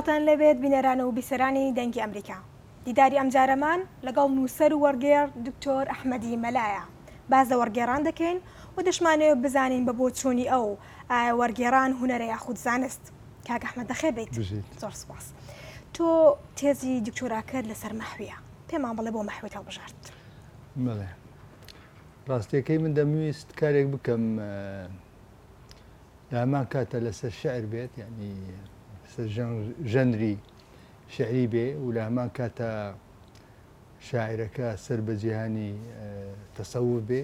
سڵاوتان لێبێت بینەران و بیسەرانی دەنگی ئەمریکا دیداری ئەمجارەمان لەگەڵ نووسەر و وەرگێڕ دکتۆر ئەحمەدی مەلایە باز لە وەرگێڕان دەکەین و دەشمانەوێت بزانین بە بۆچوونی ئەو ئایا وەرگێڕان هوەرە یاخود زانست کاک ئەحمەد بەخێر بیت زۆر سپاس تۆ تێزی دکتۆراکەت لەسەر مەحویە پێمان بڵێ بۆ مەحوێت هەڵبژارد بەڵێ ڕاستیەکەی من دەمویست کارێک بکەم لە هەمان کاتە لەسەر شعر بێت ینی ژەنری شعری بێ و لە هەمان کاتە شاعرەکە سەر بە جیهانی تەسەور بێ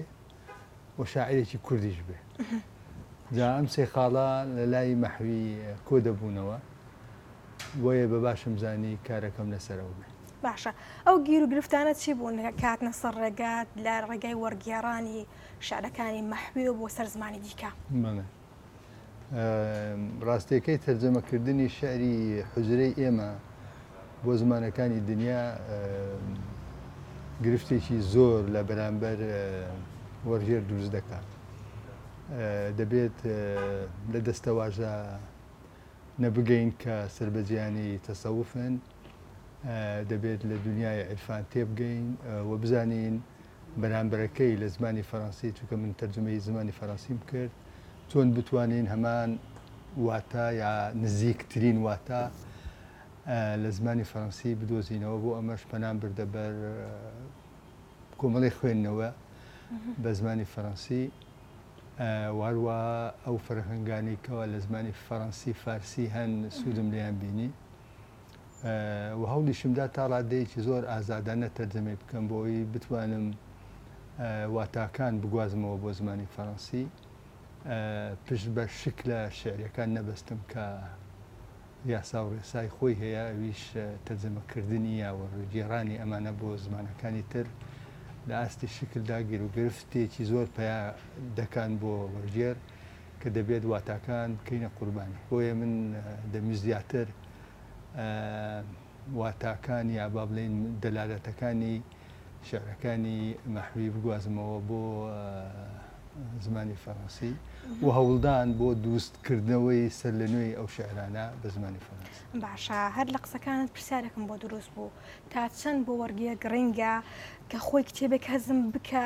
و شاعرێکی کوردیش بێ جا ئەم سێ خاڵە لە لای مەحوی کۆ دەبوونەوە بۆیە بە باشم زانی کارەکەم لەسەرەوە بێ باشە ئەو گیر و گرفتانە چی بوون کە هاتنە سەر ڕێگات لە ڕێگای وەرگێڕانی شعرەکانی مەحویەوە بۆ سەر زمانی دیکە؟ بەڵێ ڕاستیەکەی تەرجەمەکردنی شعری حوجرەی ئێمە بۆ زمانەکانی دنیا گرفتێکی زۆر لە بەرامبەر وەرگێر دروست دەکات دەبێت لە دەستەواژە نەبگەین کە سربەجیانی تەسەوفن دەبێت لە دونیای عیرفان تێبگەین و بزانین بەرامبەرەکەی لە زمانی فەرەنسی چونکە من تەرجمەی زمانی فەرەنسیم کرد چۆن بتوانین هەمان واتا یا نزیکترین واتا لە زمانی فەرەنسی بدۆزینەوە بۆ ئەمەش پەنام بردە بەر کۆمەڵی خوێندنەوە بە زمانی فەرەنسی واروا ئەو فەرهنگانی کەەوە لە زمانی فەرەنسی فارسی هەن سوودم لیان بینی و هەوڵیشم دا تا ڕادەیەکی زۆر ئازادانە تەرجەمەی بکەم بۆ ئەوەی بتوانم واتاکان بگوازمەوە بۆ زمانی فەڕەنسی پشت بە شک لە شعرەکان نەبەستم کە یاسا و ڕێسای خۆی هەیە ئەویش تەرجەمەکردنی یاوە گێڕانی ئەمانە بۆ زمانەکانی تر لە ئاستی شکلدا گیرروگرفتێکی زۆر پیا دەکان بۆ وەرگێر کە دەبێت واتاکان بکەینە قوربانی بۆیە من دەمویست زیاتر واتاکان یا با بڵێین دەلالەتەکانی شعرەکانی مەحوی بگوازمەوە بۆ زمانی فەڕەنسی و هەوڵدان بۆ دروستکردنەوەی سەر لە نوێی ئەو شعرانە بە زمانی فەرەنسی باشە هەر لە قسەکانت پرسیارێکم بۆ دروست بوو تا چەند بۆ وەرگە گرنگە کە خۆی کتێبێک هەزم بکە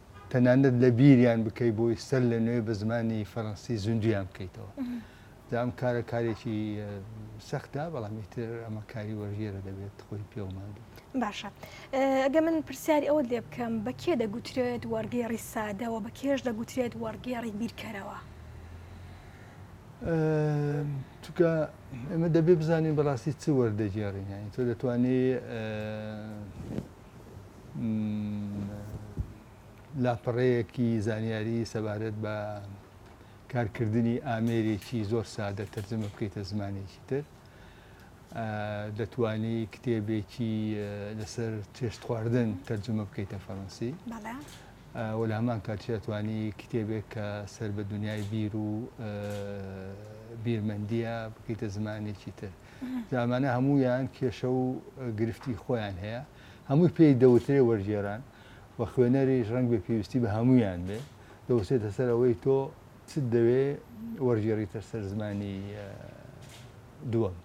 تەنانەت لەبیریان بکەی بۆی سەر لە نوێ بە زمانی فەڕەنسی زیندویان بکەیتەوە جا ئەم کارە کارێکی سەختە بەڵامی تر ئەمە کاری وەرگێرە دەبێت خۆی پێومان بێت باشە ئەگە من پرسیاری ئەوە لێ بکەم بە کێ دەگوترێت وەرگێڕی سادەوە بە کێش دەگوترێت وەرگێڕی بیرکەرەوە چکە ئێمە دەبێ بزانین بەڕاستی چ وەردەگێڕین یانی تۆ دەتوانێت لاپەڕەیەکی زانیاری سەبارەت بە کارکردنی ئامێرێکی زۆر سادە تەرجەمە بکەیتە زمانێکی تر دەتانی کتێبێکی لەسەر چێشت خواردن تەرجمە بکەیتە فەڕەنسی وەلا هەمان کاتیاتوانی کتێبێک کە سەر بە دنیای بیر و بیرمەندیە بکەیتە زمانێکی تر جا ئەمانە هەموویان کێشە و گرفتی خۆیان هەیە هەمووی پێی دەوترێ وەرگێران و خوێنەریش ڕەنگ بێ پێویستی بە هەمویان بێ دەوسێتە سەر ئەوەی تۆ چ دەوێ وەرگێڕیتە سەر زمانی دووەم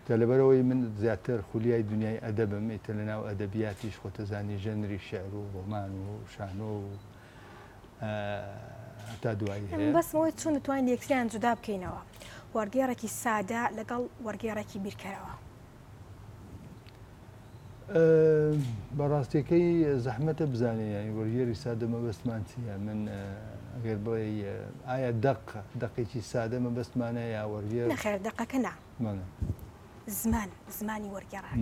کە لەبەرەوەی من زیاتر خولیای دنیای ئەدەبم ئیتە لە ناو ئەدەبیاتیش خۆتەزانی ژەنری شعر و ڕۆمان و شانۆ و هەتا دوایی هەیە. بەس بۆی چون توانین یەکتریان جودا بکەینەوە وەرگێڕێکی سادە لەگەڵ وەرگێڕێکی بیرکەرەوە. بەڕاستیەکەی زەحمەتە بزانێ یانی وەرگێری سادە مەبەستمان چییە من ئەگەر بڵێ ئایا دەق دەقێکی سادە مەبەستمانە یا وەرگێر خێر دەقەکە نا زمان زمانی وەرگێڕان.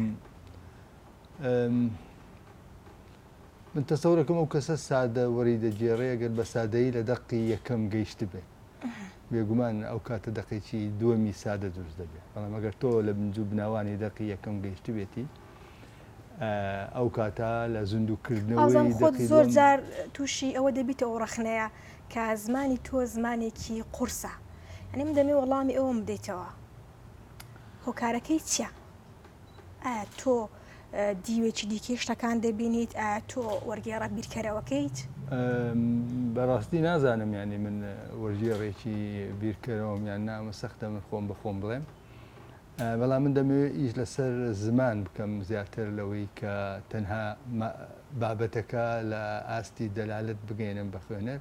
من تەسەورەکەم ئەو کەسە سادە وەری دەگێڕێ گەر بە سادەیی لە دەقی یەکەم گەیشتبێ بێگومان ئەو کاتە دەقێکی دووەمی سادە دروست دەبێت بەڵام ئەگەر تۆ لە بنجو بناوانی دەقی یەکەم گەیشتبێتی ئەو کاتە لە زیندوکردنەوەی خۆت زۆر جار تووشی ئەوە دەبیتە ئەو ڕەخنەیە کە زمانی تۆ زمانێکی قورسە ئەنی من دەمێ وەڵامی ئەوم بدەیتەوە هۆکارەکەی چیە ئایا تۆ دیوێکی دیکەی شتەکان دەبینیت ئایا تۆ وەرگێڕە بیرکەرەوەکەیت؟ بەڕاستی نازانم یانی من وەرگێڕێکی بیرکەرەوەم یان نا ئەمە سەختە من خۆم بە خۆم بڵێم بەڵام من دەمەوێت ئیش لەسەر زمان بکەم زیاتر لەوەی کە تەنها بابەتەکە لە ئاستی دەلالت بگەێنم بە خوێنەر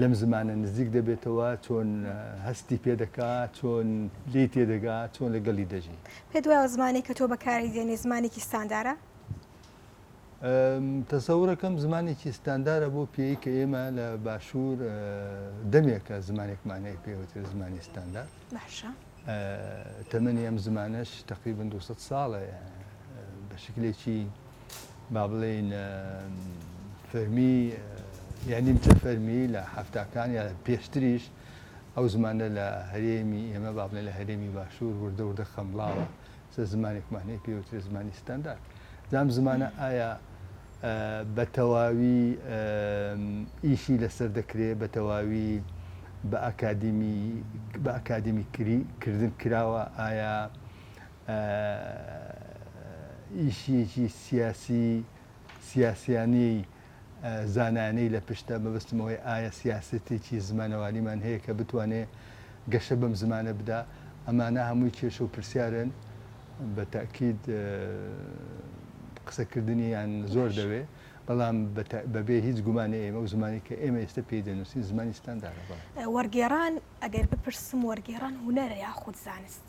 لەم زمانە نزیک دەبێتەوە، چۆن هەستی پێ دەکا، چۆن لێی تێ دەگا، چۆن لەگەڵی دەژی. پێت وایە زمانێک کە تۆ بەکاری دێنی زمانێکی ستاندارە؟ تەسەورەکەم زمانێکی ستاندارە بۆ پێی کە ئێمە لە باشوور دەمێکە زمانێکمان هەیە پێوتر زمانی ستاندار باشە تەمەنی ئەم زمانەش تقریبا 200 ساڵە بە شکلێکی با بڵێین فەرمی یا نیمچە فەرمی لە هەفتاکان یا پێشتریش ئەو زمانە لە هەرێمی ئێمە با بڵێن لە هەرێمی باشوور وردە وردە خەمڵاوە سە زمانێکمان هەیە پێوترە زمانی ستاندارد زام زمانە ئایا بە تەواوی ئیشی لەسەر دەکرێت بە تەواوی بە ئاکادمی بە ئاکادمی کردن کراوە ئایا ئیشیەکی سیاسی سیاسیانەی زانایانەی لە پشتە مەبەستم ئەوەی ئایا سیاسەتێکی زمانەوانیمان هەیە کە بتوانێ گەشە بەم زمانە بدا ئەمانە هەمووی کێشە و پرسیارن بە تاکیید قسەکردنیان زۆر دەوێ بەڵام بەبێ هیچ گومانی ئێمە و زمانی کە ئێمە ئێستا پێی دەنووسین زمانی ستاندارە وەرگێڕان ئەگەر بپرسم وەرگێڕان هوەرە یاخود زانست؟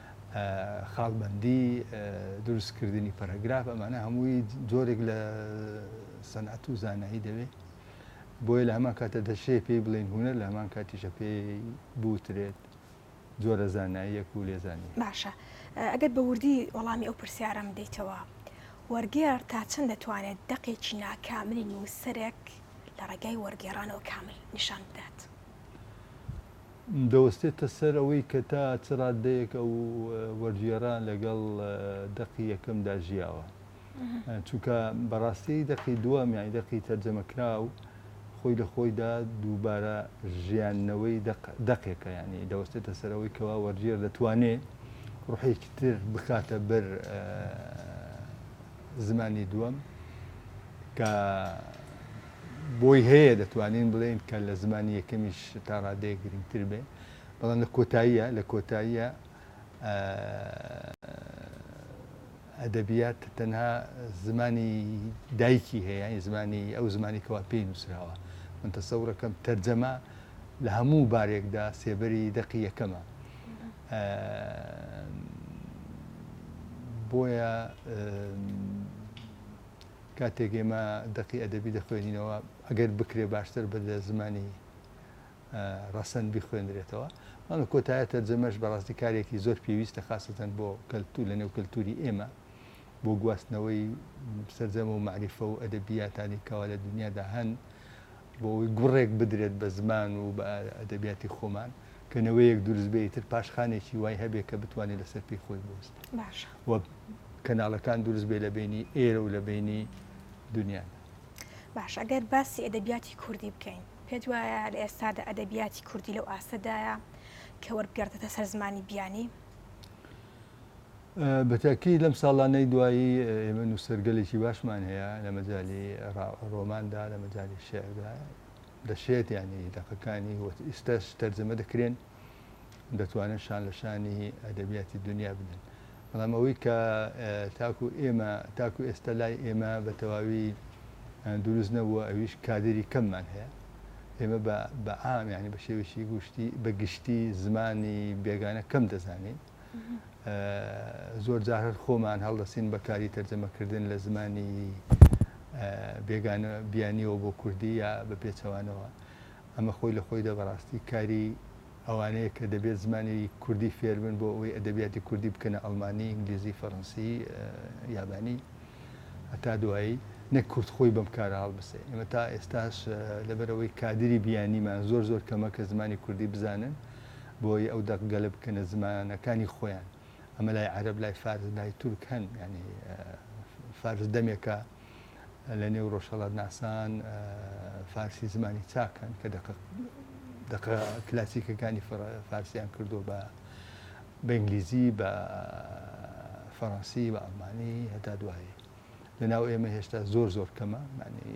خاڵبەندی، دروست کردنی پەرەگراف ئەمانە هەمووی جۆرێک لە سەنعەت و زانایی دەوێت بۆیە لە هەمان کاتە دەشێ پێی بڵێن هوەر لە هەمان کاتیشە پێی بوترێت جۆرە زاناییەک و لێزانی باشە ئەگەر بە وردی وەڵامی ئەو پرسیارم دیتەوە وەرگێر تا چەند دەتوانێت دەقێکی ناکاملی نووسەرێک لە ڕێگای وەرگێڕانەوە کامل نیشان بدات. دەوەستێتە سەر ئەوەی کە تا چ ڕاددەیەک ئەو وەرگێڕە لەگەڵ دەقی یەکەمدا ژیاوە. چونکە بەڕاستی دەقی دووەم یانی دەقی تەرجەمەکراو خۆی لە خۆیدا دووبارە ژیاندنەوەی دەقێکە یانی دەوەستێتە سەرەوەی کەوا وەرگێر دەتوانێ ڕوحێکی تر بکاتە بەر زمانی دووەم کە بۆی هەیە دەتوانین بڵێین کە لە زمانی یەکەمیش تا ڕادەیەک گرنگتر بێ بەڵام لە کۆتاییە لە کۆتاییە ئەدەبیات تەنها زمانی دایکی هەیە زمانی ئەو زمانی کەوا پێی نووسراوە من تەسەورەکەم تەرجەمە لە هەموو بارێکدا سێبەری دەقی یەکەمە بۆیە کاتێک ئێمە دەقی ئەدەبی دەخوێنینەوە ئەگەر بکرێ باشتر بە لە زمانی ڕەسەن بخوێنرێتەوە مانە کۆتایە تەرجەمەش بەڕاستی کارێکی زۆر پێویستە خاستەن بۆ کەلتور لە نێو کەلتوری ئێمە بۆ گواستنەوەی سرجەمە و معریفە و ئەدەبیاتانی کەوا لە دنیادا هەن بۆ ئەوەی گوڕێک بدرێت بە زمان و بە ئەدەبیاتی خۆمان کە نەوەیەک دروست بێ ئیتر پاشخانێکی وای هەبێ کە بتوانێت لەسەر پێی خۆی بوەستێت باشە و کەناڵەکان دروست بێ لە بینی ئێرە و لە بینی دنیادا باش ئەگەر باسی ئەدەبیاتی کوردی بکەین پێت وایە لە ئێستادا ئەدەبیاتی کوردی لەو ئاستەدایە کە وەربگەردێتە سەر زمانی بیانی بە تاکید لەم ساڵانەی دوایی ئێمە نووسەرگەلێکی باشمان هەیە لە مەجای ڕۆماندا لە مەجای شعردا دەشێت ینی دەقەکانی وەت ئیستاش تەرجەمە دەکرێن دەتوانن شان لە شانی ئەدەبیاتی دنیا بدەن بەڵام ئەوەی کە تاکو ئێمە تاکو ئێستا لای ئێمە بە تەواوی دروست نەبووە ئەویش کادری کەممان هەیە ئێمە بە عام ینی بە شێوێکی گوشتی بە گشتی زمانی بێگانە کەم دەزانین زۆر جار هەر خۆمان هەڵدەسین بە کاری تەرجەمەکردن لە زمانی بێگانە بیانیەوە بۆ کوردی یا بە پێچەوانەوە ئەمە خۆی لە خۆی دەبڕاستی کاری ئەوانەیە کە دەبێت زمانی کوردی فێربن بۆ ئەوەی ئەدەبیاتی کوردی بکەنە ئەلمانی ئینگلیزی فەڕەنسی یابانی هەتا دوایی نەک کورد خۆی بەم کارە هەڵبسێ ئێمە تا ئێستاش لەبەرەوەی کادری بیانیمان زۆر زۆر کەمە کە زمانی کوردی بزانن بۆی ئەو دەق گەلە بکەنە زمانەکانی خۆیان ئەمە لای عەرب لای فارس لای تورک هەن ینی فارس دەمێکە لە نێو ڕۆژهڵات ناسان فارسی زمانی چاکەن کە دەق دەق کلاسیکەکانی فارسیان کردو بە بە ئینگلیزی بە فەڕەنسی بە ئەڵمانی هەتا دوایی لەناو ئێمە هێشتا زۆر زۆر کەمە ینی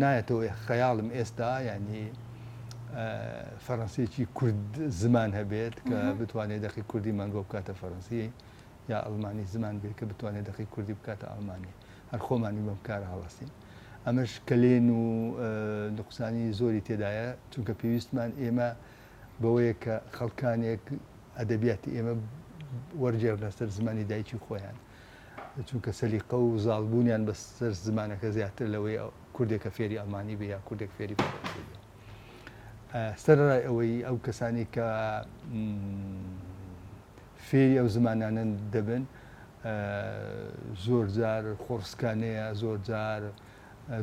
نایەتەوە خەیاڵم ئێستا ینی فەڕەنسیەکی کورد زمان هەبێت کە بتوانێت دەقی کوردی مانگۆ بکاتە فەرەنسی یا ئەلمانی زمان بێت کە بتوانێت دەقی کوردی بکاتە ئەلمانی هەر خۆمانی بەم کار هەڵاستین ئەمەش کەلێن و نقصانی زۆری تێدایە چونکە پێویستمان ئێمە بەوەیە کە خەڵکانێک ئەدەبیاتی ئێمە وەرگێڕ لەسەر زمانی دایکی خۆیان چونکە سەلیقە و زاڵبوونیان بەسەر زمانەکە زیاتر لەوەی کوردێکە فێری ئەڵمانی بێ یا کوردێک فێری سەرڕای ئەوەی ئەو کەسانی کە فێری ئەو زمانانن دەبن زۆر جار خۆڕسکانەیە زۆر جار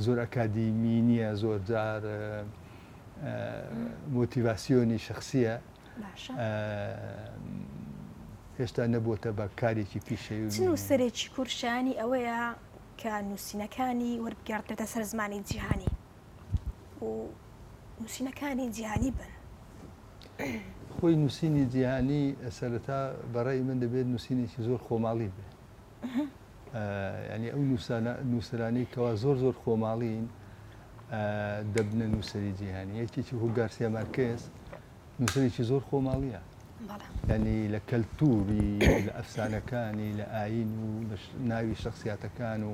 زۆر ئەکادیمی نیە زۆر جار مۆتیڤاسیۆنی شخصیە باشە هێشتا نەبووتە بە کارێکی پیشەوی چ نووسەرێکی کورد شایانی ئەوەیە کە نووسینەکانی وەربگەڕدرێتە سەر زمانی جیهانی و نووسینەکانی جیهانی بن خۆی نووسینی جیهانی سەرەتا بەڕێی من دەبێت نووسینێکی زۆر خۆماڵی بێت یانی ئەو نووسرانەی کەوا زۆر زۆر خۆماڵین دەبنە نووسری جیهانی یەکێکی هو گارسیا مارکێز نووسەرێکی زۆر خۆماڵیە ینی لە کەلتوری لە ئەفسانەکانی لە ئاین و لە ناوی شخصیاتەکان و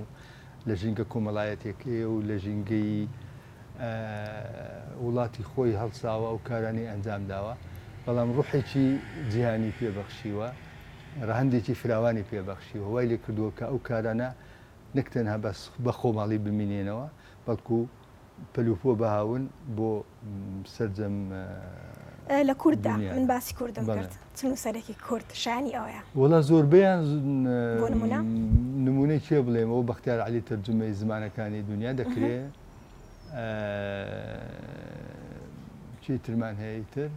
لە ژینگە کۆمەڵایەتەکەی و لە ژینگەی وڵاتی خۆی هەڵساوە ئەو کارانەی ئەنجام داوە بەڵام ڕوحێکی جیهانی پێ بەخشیوە ڕەهەندێکی فراوانی پێ بەخشیوە وای لێ کردووە کە ئەو کارانە نەک تەنها بەس بە خۆماڵی بمینێنەوە بەڵکو پەلوپۆ بهاون بۆ سەرجەم لە کورددا من باسی کوردم کرد. چ نوسەرێکی کورد شایەنی ئەوەیە؟ وەڵا زۆربەیان بۆ نمونە؟ نمونەی کێ بڵێم ئەو بەختیار عەلی تەرجومەی زمانەکانی دونیا دەکرێ چی ترمان هەیە تر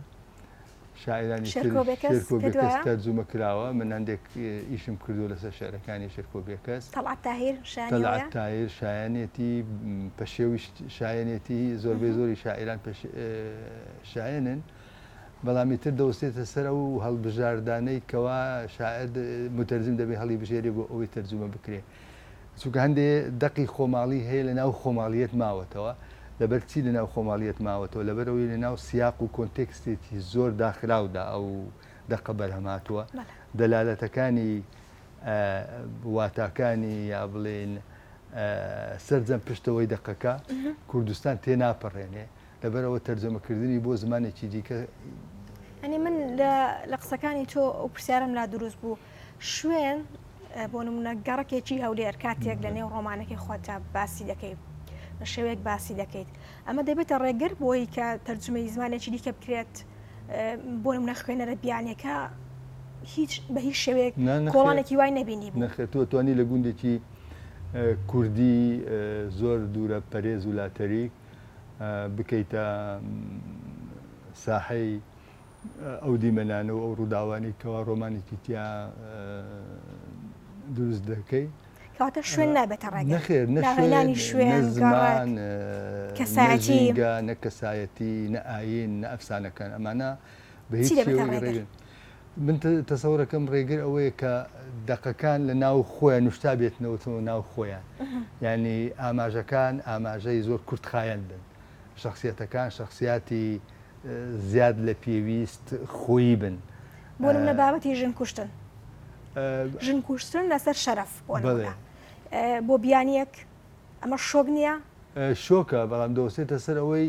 شاعرانی شێرکۆ بێکەس تەرجومە کراوە من هەندێک ئیشم کردو لەسەر شعرەکانی شێرکۆ بێکەس تەڵعەت تاهیر شایەنی ئەوەیە؟ تەڵعەت تاهیر شایەنێتی پەشێویش شایەنێتی زۆربەی زۆری شاعران شایەنن بەڵام ئیتر دەوەستێتە سەر ئەو هەڵبژاردانەی کەوا شاعیر، موتەرجم دەبێ هەڵیبژێرێ بۆ ئەوەی تەرجومە بکرێ. چونکە هەندێ دەقی خۆماڵی هەیە لە ناو خۆماڵییەت ماوەتەوە. لەبەر چی لە ناو خۆماڵییەت ماوەتەوە؟ لەبەر ئەوەی لە ناو سیاق و کۆنتێکستێکی زۆر داخراودا ئەو دەقە بەرهەم هاتووە. دەلالەتەکانی واتاکانی یا بڵێین سەرجەم پشتەوەی دەقەکە کوردستان تێناپەڕێنێ. لەبەر ئەوە تەرجەمە کردنی بۆ زمانێکی دیکە. یانی من لە لە قسەکانی تۆ ئەو پرسیارم لا دروست بوو شوێن بۆ نمونە گەڕکێکی هەولێر کاتێک لە نێو ڕۆمانەکەی خۆتا باسی دەکەیت بە شێوەیەک باسی دەکەیت ئەمە دەبێتە ڕێگر بۆی کە تەرجمەی زمانێکی دیکە بکرێت بۆ نمونە خوێنەرە بیانەکە هیچ بە هیچ شێوەیەک کۆڵانێکی وای نبینی بوو نەخێت تۆ توانی لە گوندێکی کوردی زۆر دوورە پەرێز و لاتەریک بکەیتە ساحەی ئەو دیمەنانە و ئەو ڕووداوانی کەوا ڕۆمانێکی تیا دروست دەکەی کەواتە شوێن نابێتە ڕێگە نەخێر نەخێنانی شوێن زمان کەسایەتی نە کەسایەتی نە ئاین نە ئەفسانەکان ئەمانە بە هیچ ڕێگەن من تەسەورەکەم ڕێگر ئەوەیە کە دەقەکان لە ناو خۆیان نوشتا بێتنەوەەوە ناو خۆیان ینی ئاماژەکان ئاماژەی زۆر کورتخایەن بن شخصیەتەکان شخصیاتی زیاد لە پێویست خۆی بن بۆ لە بابەتی ژن کوشتن ژن کوشتن لەسەر شەرف بۆ بیانیەک ئەمە شۆک نییە شۆکە بەڵام دۆسێتە سەر ئەوەی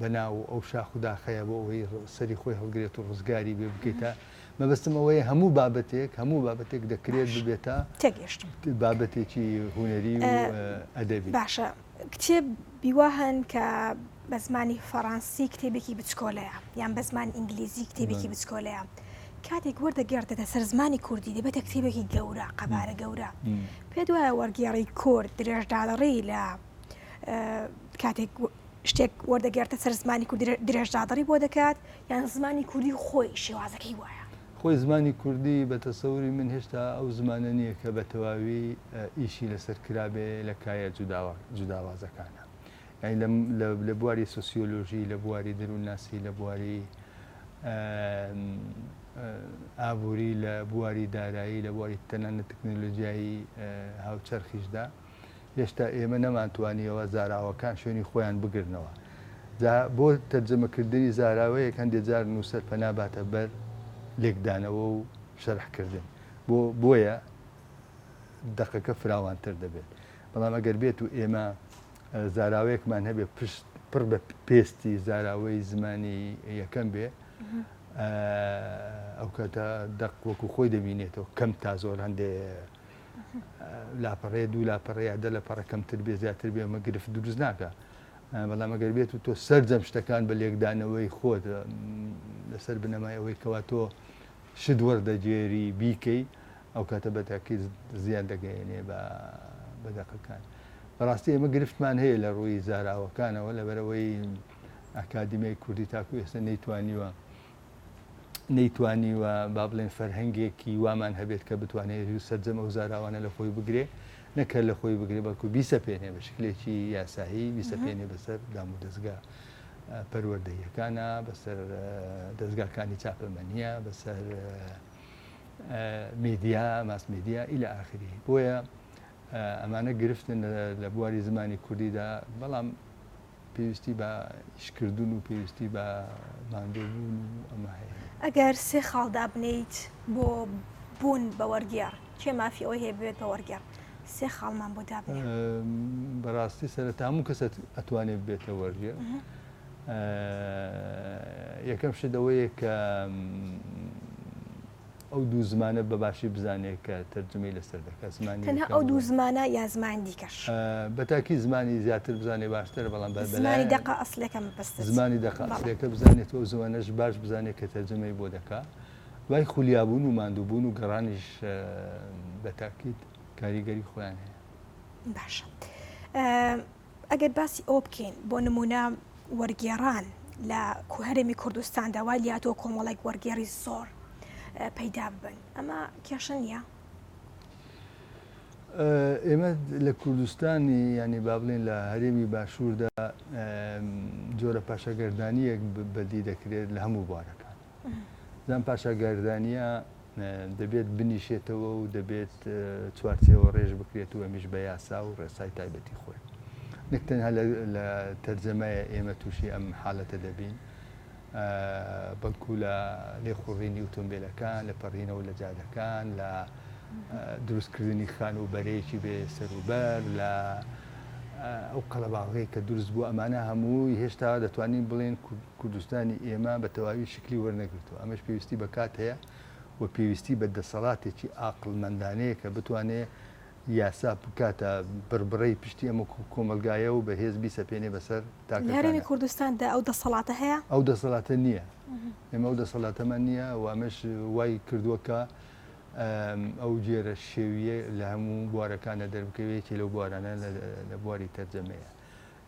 بە ناو ئەو شاخ و داخەیە بۆ ئەوەی سەری خۆی هەڵگرێت و ڕزگاری بێ بکەیتە مەبستم ئەوەیە هەموو بابەتێک هەموو بابەتێک دەکرێت ببێتە تێگەشتم بابەتێکی هوەری و ئەدەبی باشە کتێب بیوا هەن کە بە زمانی فەڕەنسی کتێبێکی بچکۆلەیە یان بە زمانی ئینگلیزی کتێبێکی بچکۆلەیە کاتێک وەردە گردێتە سەر زمانی کوردی دەبێتە کتێبێکی گەورە قەبارە گەورە پێ دوایە وەرگێڕی کورد درێژداڵڕی لە کاتێک شتێک وەردەگێڕێتە سەر زمانی کوردی درێژدادڕی بۆ دەکات یان زمانی کوردی خۆی شێوازەکەی وایە؟ خۆی زمانی کوردی بە تەسەوری من هێشتا ئەو زمانە نییە کە بە تەواوی ئیشی لەسەر کرابێ لە کایە جوداوازەکانە یانی لە بواری سۆسیۆلۆژی لە بواری دەروونناسی لە بواری ئابووری لە بواری دارایی لە بواری تەنانەت تەکنەلۆجیایی هاوچەرخیشدا. هێشتا ئێمە نەمانتوانیەوە زاراوەکان شوێنی خۆیان بگرنەوە جا بۆ تەرجەمەکردنی زاراوەیەک هەندێک جار نووسەر پەناباتە بەر لێکدانەوە و شەرحکردن بۆ بۆیە دەقەکە فراوانتر دەبێت بەڵام ئەگەر بێت و ئێمە زاراوەیەکمان هەبێ پشت پڕ بە پێستی زاراوەی زمانی یەکەم بێ ئەو کاتە دەق وەکو خۆی دەبینێتەوە کەم تا زۆر هەندێ لاپەڕەیە دوو لاپەڕە یا دە لەپەڕە کەمتر بێ زیاتر بێ ئەمە گرفت دروست ناکە بەڵام ئەگەر بێت و تۆ سەرجەم شتەکان بە لێکدانەوەی خۆت لەسەر بنەمای ئەوەی کەوا تۆ شت وەردەگێری بیکەی ئەو کاتە بەتاکی زیان دەگەێنێ بە بەدەقەکان بەڕاستی ئێمە گرفتمان هەیە لە ڕووی زاراوەکانەوە لەبەرەوەی ئەکادیمیای کوردی تاکو ئێستا نەیتوانیوە نەیتوانیوە با بڵێن فەرهەنگێکی وامان هەبێت کە بتوانێت و سەررجەم ئەو زاراوانە لە خۆی بگرێ نەکە لە خۆی بگرێ بەڵکو بیسە پێێنێ بە شکلێکی یاسایی بیسە پێێنێ بەسەر دام و دەستگا پەروەردەیەکانە بەسەر دەستگاکانی چاپەمەنیە بەسەر میدیا ماس میدیا ئیلا ئاخری بۆیە ئەمانە گرفتن لە بواری زمانی کوردیدا بەڵام پێویستی بە ئیشکردن و پێویستی بە ماندووبوون و ئەمە هەیە. ئەگەر سێ خاڵ دابنێیت بۆ بوون بە وەرگێڕ، کێ مافی ئەوەی هەیە ببێت بە وەرگێڕ؟ سێ خاڵمان بۆ دابنێ. بەڕاستی سەرەتا هەموو کەس ئەتوانێت ببێتە وەرگێڕ. یەکەم شت ئەوەیە کە ئەو دوو زمانە بە باشی بزانێ کە تەرجومەی لەسەر دەکا زمانی تەنها یەکەم ئەو دوو بڵێ زمانە یا زمان دیکەش. ئا بە تاکی زمانی زیاتر بزانێ باشترە بەڵام بە زمانی بەلایان دەقە ئەسڵیەکە مەبەستت زمانی دەقە بەڵێ. ئەسڵیەکە بزانێت و ئەو زمانەش باش بزانێ کە تەرجومەی بۆ دەکا دوای خولیابوون و ماندووبوون و گەڕانیش ئا بە تاکید کاریگەری خۆیان هەیە. باشە ئا ئەگەر باسی ئەوە بکەین بۆ نمونە وەرگێڕان لە هەرێمی کوردستاندا وای لاتۆ کۆمەڵێک وەرگێڕی زۆر پەیدا ببن ئەمە کێشە نییە ئێمە لە کوردستانی ینی با بڵێن لە هەرێمی باشووردا جۆرە پاشەگەردانیەک بەدی دەکرێت لە هەموو بوارەکان زان پاشا گاردانیا دەبێت بنیشێتەوە و دەبێت چوارچێوە ڕێژ بکرێت و ئەمیش بە یاسا و ڕێسای تایبەتی خۆی نەک تەنها لە تەرجەمایە ئێمە تووشی ئەم حالەتە دەبین بەڵکو لە لێخوڕینی ئۆتۆمبیلەکان لە پەڕینەوە لە جادەکان لە دروستکردنی خان و بەرەیەکی بێ سەروبەر لە ئەو قەلەباڵغی کە دروست بوو ئەمانە هەمووی هێشتا دەتوانین بڵێن کوردستانی ئێمە بە تەواوی شکلی وەرنەگرتووە، ئەمەش پێویستی بە کات هەیە و پێویستی بە دەسەڵاتێکی ئاقڵمەندانەیە کە بتوانێت یاسا بکاتە بڕبڕەی پشتی ئەم کۆمەڵگایە و بەهێز بیسەپێنێ بەسەر تاکەکان. لە هەرێمی کوردستاندا ئەو دەسەڵاتە هەیە؟ ئەو دەسەڵاتە نییە. ئێمە ئەو دەسەڵاتەمان نییە و ئەمەش وای کردووە کە ئەو جێرە شێوییە لە هەموو بوارەکاندا دەربکەوێت، یەکێ لەو بوارانە لە بواری تەرجەمەیە.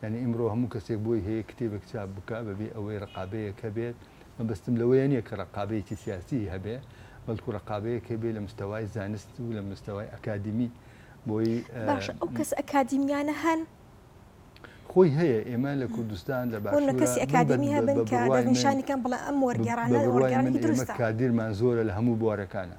یانی ئیمڕۆ هەموو کەسێک بۆی هەیە کتێبێک چاپ بکا بەبێ ئەوەی ڕقابەیەک هەبێت، مەبەستم لەوەیە نیە کە ڕقابەیەکی سیاسیی هەبێ، بەڵکو ڕقابەیەک هەبێ لە مستەوای زانست و لە مستەوای ئەکادیمی بۆی. باشە ئەو کەسە ئەکادیمیانە هەن؟ خۆی هەیە، ئێمە لە کوردستان لە باشوورا. بۆ کەسی ئەکادیمی هەبن کە دەستنیشانی کەن بڵێ ئەم وەرگێڕانە وەرگێڕانێکی دروستە. بە بڕوای من ئێمە کادیرمان زۆرە لە هەموو بوارەکانا.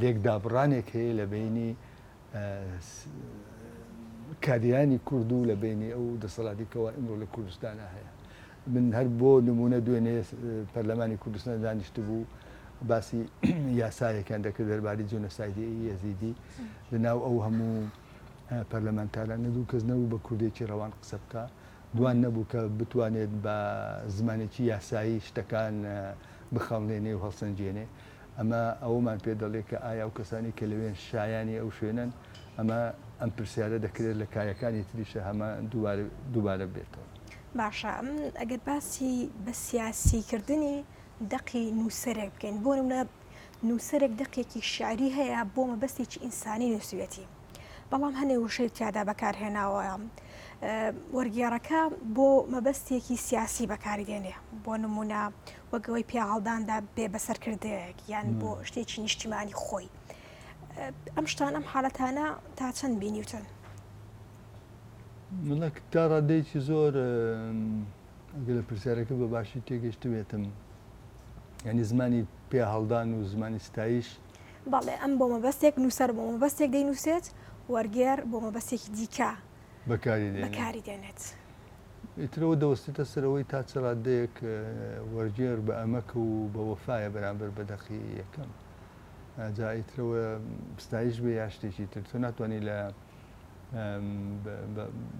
لێکدابڕانێک هەیە لە بینی کادیرانی کورد و لە بینی ئەو دەسەڵاتی کەوا ئمڕۆ لە کوردستانە هەیە من هەر بۆ نمونە دوێنێ پەرلەمانی کوردستان دانیشت بوو باسی یاسایەکیان دەکرد دەرباری جۆنەسایدی یەزیدی لە ناو ئەو هەموو پەرلەمانتاران نەدوو کەس نەبوو بە کوردێکی ڕەوان قسە بکە دوان نەبوو کە بتوانێت بە زمانێکی یاسایی شتەکان بخەڵنێنێ و هەڵسەنگێنێ. ئەمە ئەوەمان پێ دەڵێ کە ئایا ئەو کەسانەی کە لەوێن شایانی ئەو شوێنەن؟ ئەمە ئەم پرسیارە دەکرێت لە کایەکانی تریشە هەمە دووبارە دووبارە ببێتەوە. باشە ئەگەر باسی بە سیاسی کردنی دەقی نووسەرێک بکەین، بۆ نموونە نووسەرێک دەقێکی شیعری هەیە بۆ مەبەستێکی ئینسانی نووسیویەتی، بەڵام هەنێ وشەی تیادا بەکارهێناوە وەرگێڕەکە بۆ مەبەستێکی سیاسی بەکاری دێنێ بۆ نمونە وەگەوەی پیاهڵداندا بێ بەسەرکردەیەک یان بۆ شتێکی نیشتیمانی خۆی ئەم شتان ئەم حالەتانە تا چەند بینیوتن منە تا ڕادەیەکی زۆر گەل پرسیارەکە بە باشی تێگەشتبێتم ینی زمانی پێ هەڵدان و زمانی ستایش بەڵێ ئەم بۆ مەبەستێک نووسەر بۆ مەبەستێک دەینووسێت وەرگێر بۆ مەبەستێکی دیکە بەکاری دێنێت. بەکاری دێنێت. ئیترەوە دەوەستێتە سەرەوەی تا چ ڕاددەیەک وەرگێر بە ئەمەک و بە وەفاە بەرامبەر بە دەقی یەکەم جا ئیترەوە ستایش بێ یا شتێکی تر تۆ ناتوانانی لە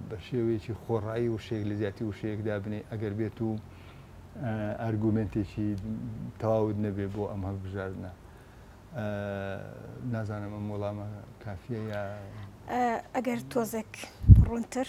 بە شێوەیەکی خۆڕایی وشەیەک لە جیاتی وشەیەک دابنێ ئەگەر بێت و ئەرگومنتێکی تەواوت نەبێ بۆ ئەم هەڵبژاردنە نازانم ئەم وەڵامە کافیە یا ئەگەر تۆزێک ڕوونتر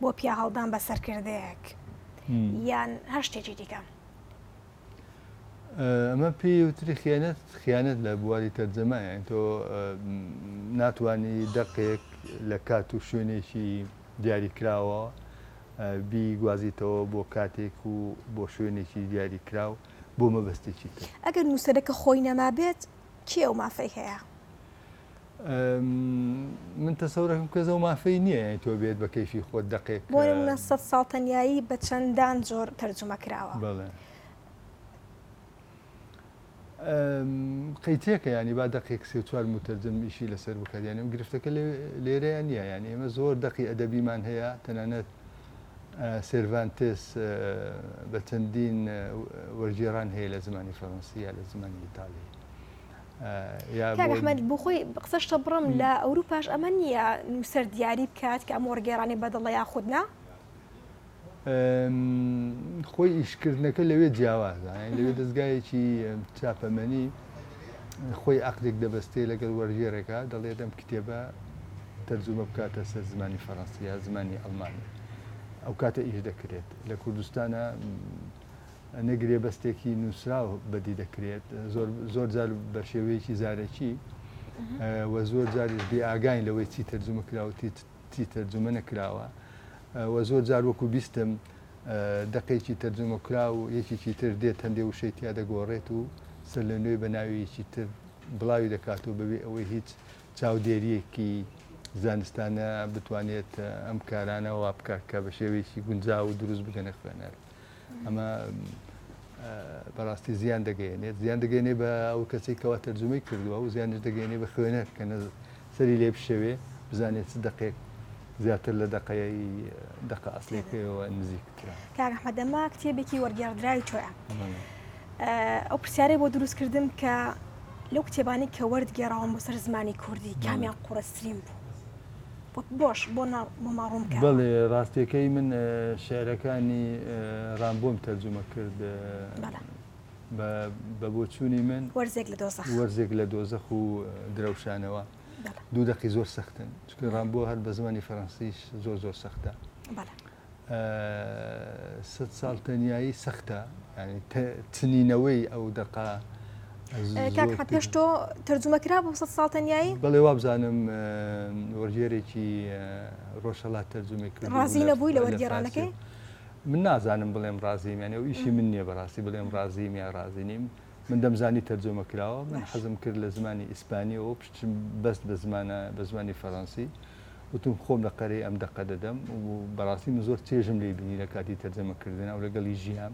بۆ پیاهەڵدان بە سەرکردەیەک یان هەر شتێکی دیکە؟ ئەمە پێی وتری خیانەت خیانەت لە بواری تەرجەمایە تۆ ناتانی دەقێک لە کات و شوێنێکی دیاریکراوە بی گوازیتەوە بۆ کاتێک و بۆ شوێنێکی دیاریکراو بۆ مەبەستێکی تر ئەگەر نووسەرەکە خۆی نەمابێت کێ و مافەی هەیە؟ من تەسەورەکەم کەس ئەو مافەی نییە یانی تۆ بێت بە کەیفی خۆت دەقێک بۆ نمونە سەد ساڵ تەنیایی بە چەندان جۆر تەرجمە کراوە بەڵێ قەیتێکە ینی با دقێک سێ چوار متەرجم ئیشی لەسەر بکات یانی ئەم گرفتەکە لێرەیان نییە یانی ئێمە زۆر دقی ئەدەبیمان هەیە تەنانەت سێرڤانتس بە چەندین وەرگێران هەیە لە زمانی فەڕەنسیە لە زمانی ئیتالی کاک ئەحمەد بۆ خۆی قسە شتە بڕم لە ئەوروپاش ئەمە نییە نووسەر دیاری بکات کە ئەم وەڕگێرانی بەدڵە یاخود نا خۆی ئیشکردنەکە لەوێ جیاوازە لەوێ دەستگایەکی چاپەمەنی خۆی عقدێک دەبستێ لەگەڵ وەرگێرەکە دەڵێ دەم کتێبە تەرجمە بکاتە سەر زمانی فەڕەنسیە زمانی ئەڵمانی ئەو کاتە ئیش دەکرێت لە کوردستانە نە گرێبەستێکی نووسراو بەدی دەکرێت زۆر جار بەشێوەیەکی زارەکی و زۆر جاریش بێ ئاگاین لەوەی چی تەرجمە کراوەتی چی تەرجمە نەکراوە و زۆر جار وەکو بیستم دەقێکی تەرجمە کرا و یەکێکی تر دێت هەندێ وشەی تیا دەگۆڕێت و سەر لە نوێ بە ناویەکی تر بڵاوی دەکات و بەبێ ئەوەی هیچ چاودێریەکی زانستانە بتوانێت ئەم کارانە وا بکە کە بە شێوەیەکی گونجا و دروست بگەنە خوێنەر. ئەمە بەڕاستی زیان دەگەێنێت زیان دەگەێنێ بە ئەو کەسی کەوا تەرجمەی کردووە و زیانش دەگەێنێ بە خوێنەر کە سەری لێ بشەوێ بزانێت چ دقێک زیاتر لە دقەیە دقە ئەسلەکەەوە نزیکترا کاگەحمەدەما کتێبێکی وەرگێڕدراوی تۆە ئەو پرسیارەی بۆ دروستکردم کە لەو کتێبانی کە وەرد گێڕاوم بۆ سەر زمانی کوردی کامیان قوڕسترین بوو بۆش بۆ ناو بۆ ما ڕوون کەوە. بەڵێ ڕاستیەکەی من شعرەکانی ڕامبۆم تەرجومە کرد بە بە بۆچوونی من وەرزێک لە دۆزەخ وەرزێک لە دۆزەخ و درەوشانەوە دوو دەقی زۆر سەختن چونکە ڕامبۆ هەر بە زمانی فەرەنسیش زۆر زۆر سەختە. سەد ساڵ تەنیایی سەختە ینی چنینەوەی ئەو دەقا پێش تۆ تەرجمە کرا بۆ سە ساڵ تەنیایی بەڵێ وابزانم وەرگێرێکی ڕۆژەڵات تەرجمە کرد ڕازی نەبووی لە وەرگێرانەکەی من نازانم بڵێم ڕازیمیان ئەو ئیشی من نییە بەڕاستی بڵێم ڕازیمیا ڕازی نیم من دەمزانی تەرجمە کراوە من حەزم کرد لە زمانی ئیسپانیەوە پشتم بەست بە زمانە بە زمانی فەڕەنسی وتم خۆم لە قەرەی ئەم دەقە دەدەم و بەڕاستی من زۆر چێژم لێ بینی لە کاتی تەرجەمەکردن ئەو لەگەڵی ژیان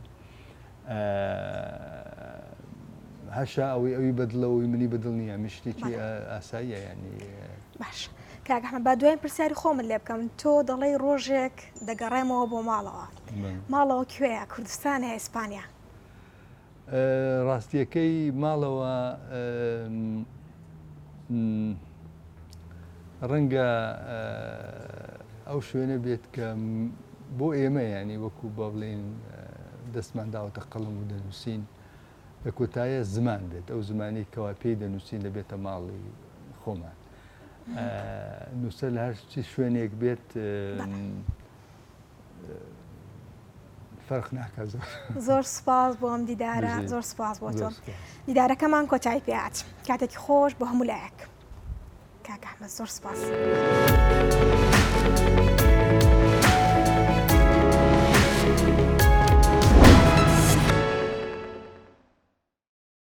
هەشا ئەوەی ئەوی بەدڵەوەی منی بەدڵ نییە من شتێکی ئاساییە ینی باش کاگەحمە با دوای پرسیاری خۆمن لێ بکەم تۆ دەڵی ڕۆژێک دەگەڕێمەوە بۆ ماڵەوە ماڵەوە کوێە کوردستانە ئیسپانیا ڕاستیەکەی ماڵەوە ڕەنگە ئەو شوێنە بێت کە بۆ ئێمە ینی وەکو بە بڵێن دەستمان داوەتە قەڵم و دەنووسین لە کۆتایە زمان بێت ئەو زمانی کەوا پێی دەنووسین لە بێتە ماڵی خۆمان نووسەر لە هەر شوێنێک بێت فەرق ناکات زۆر زۆر سپاس بۆ ئەم دیدارە زۆر سپاس بۆ تۆ دیدارەکەمان کۆتایی پێات کاتێکی خۆش بۆ هەموو لایەک کاکەحمە زۆر سپاس.